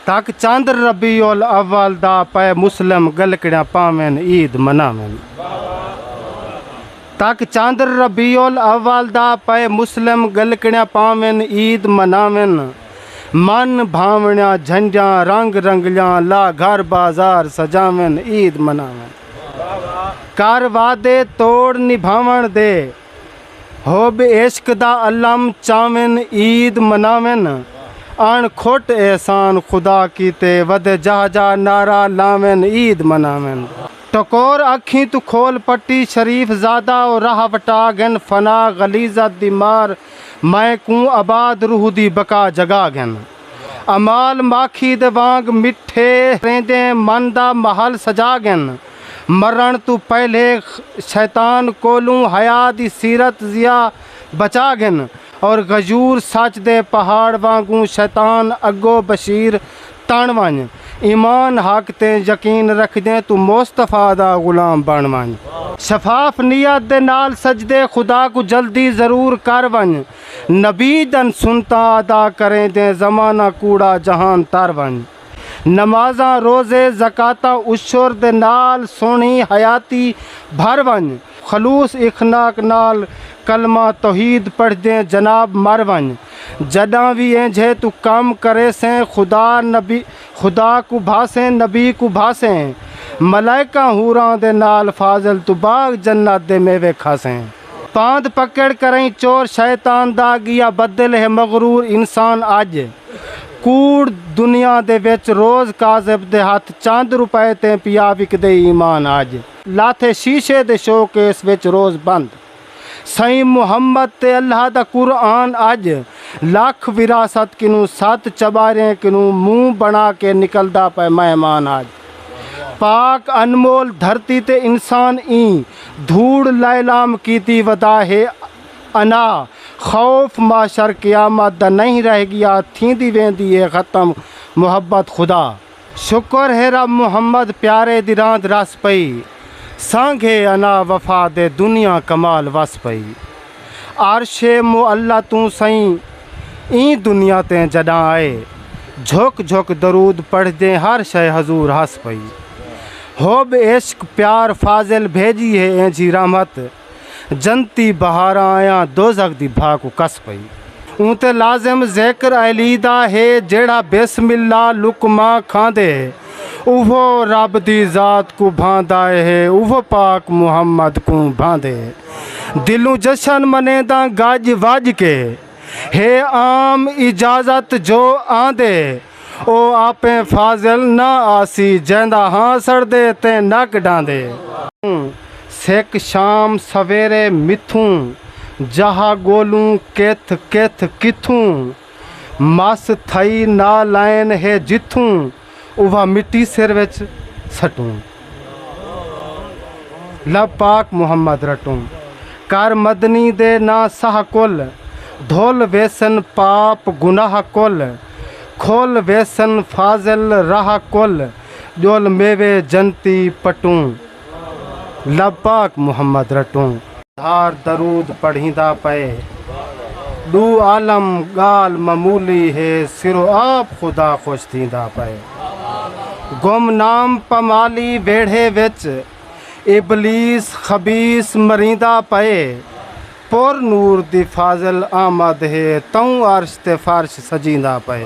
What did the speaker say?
تک چندر ربیع الاول دا پئے مسلم گلکڑیاں پاون عید مناون تک چندر ربیع الاول دا پئے مسلم گلکڑیاں پاون عید مناون من بھاونیاں جھنڈیاں رنگ رنگلیاں لا گھر بازار سجاون عید مناون کر وعدے توڑ نبھاون دے حب عشق دا علم چاون عید مناون اݨ کھٹ احسان خدا کیتے ودے جاہ جاہ نعرہ لاون عید مناون۔ ٹکور اکھیں توں کھول پٹی شریف زادہ او راہ وٹا گھن فنا غلیظت دی مار مئے کوں آباد روح دی بقا جگا گھن امال ماکھی دے وانگ مٹھے ریندیں من دا محل سجا گھن۔ مرݨ توں پہلے شیطان کولوں حیا دی سیرت ضیا بچا گھن اور غیور سچ دے پہاڑ وانگوں شیطان اگو بشیر تݨ ونڄ ایمان حق تے یقین رکھدیں توں مصطفی دا غلام بݨ ونڄ۔ شفاف نیت دے نال سجدے خدا کوں جلدی ضرور کر ونڄ نبی دن سنتاں ادا کریندیں زمانہ کوڑا جہان تر ونڄ۔ نمازاں، روزے، زکاتاں، عشر دے نال سوہنی حیاتی بھر ونڄ، خلوص اخناق نال کلمہ توحید پڑھدیں جناب مر ونڄ، جݙاں وی اینجھے توں کم کریسیں خدا نبی خدا کوں بھاسیں نبی کوں بھاسیں، ملائکاں حوراں دے نال فاضل توں باغ جنت دے میوے کھاسیں۔ پاند پکڑ کرئیں چور شیطان دا گیا بدل ہے مغرور انسان اج کوڑ دنیا دے وچ روز کاذب دے ہتھ چند روپے تیں پیا وکدے ایمان اج۔ لاتھے شیشے دے شو کیس وچ روز بند سئیں محمد تے اللہ دا قرآن اج لکھ وراثت کنوں ست چباریں کنوں منہ بنا کے نکلدا پئے مہمان اج۔ پاک انمول دھرتی تے انسان ایں دھوڑ لائلام کیتی ودا ہے انا خوف معشر قیامت دا نئیں رہ گیا تھیندی ویندی ہے ختم محبت خدا شکر ہے رب محمد پیارے دی راند رس پئی سانگھے انا وفا دے دنیا کمال وس پئی۔ عرش معلی توں سئیں ایں دنیا تے جݙاں آئے جھک جھک درود پڑھدیں ہر شئے حضور ہس پئی حب عشق پیار فاضل بھیڄی ہے اینجھی رحمت جنتی بہاراں آیاں دوزخ دی بھا کوں کس پئی۔ اوں تے لازم ذکر علی دا ہے جیڑھا بسم اللہ لقمہ کھاندے اوہو رب دی ذات کوں بھاندا ہے اوہو پاک محمد کوں بھاندے۔ دلوں جشن منینداں گج وج کے ہے عام اجازت جو آندے او آپیں فاضل نہ آسی جیندا ہاں سڑدے تے نک ڈاندے۔ ہوں سک شام سویرے متھوں جہا گولوں کتھ کتھ کتھوں مس تھئی نالائن ہے جتھوں۔ اوہاں مٹی سر وچ سٹوں لب پاک محمد رٹوں کر مدنی دے نا سہ کل دھل ویسن پاپ گناہ کل کھل ویسن فاضل راہ کل ڄول میوے جنتی پٹوں۔ لب پاک محمد رٹوں۔ دھار درود پڑھیندا پئے۔ ڈو عالم گالھ معمولی ہے سرو آپ خدا خوش تھیندا پئے۔ گم نام پمالی ویڑھے وچ ابلیس خبیث مریندا پئے۔ پر نور دی فاضل آمد ہے توں عرش تے فرش سجیندا پئے۔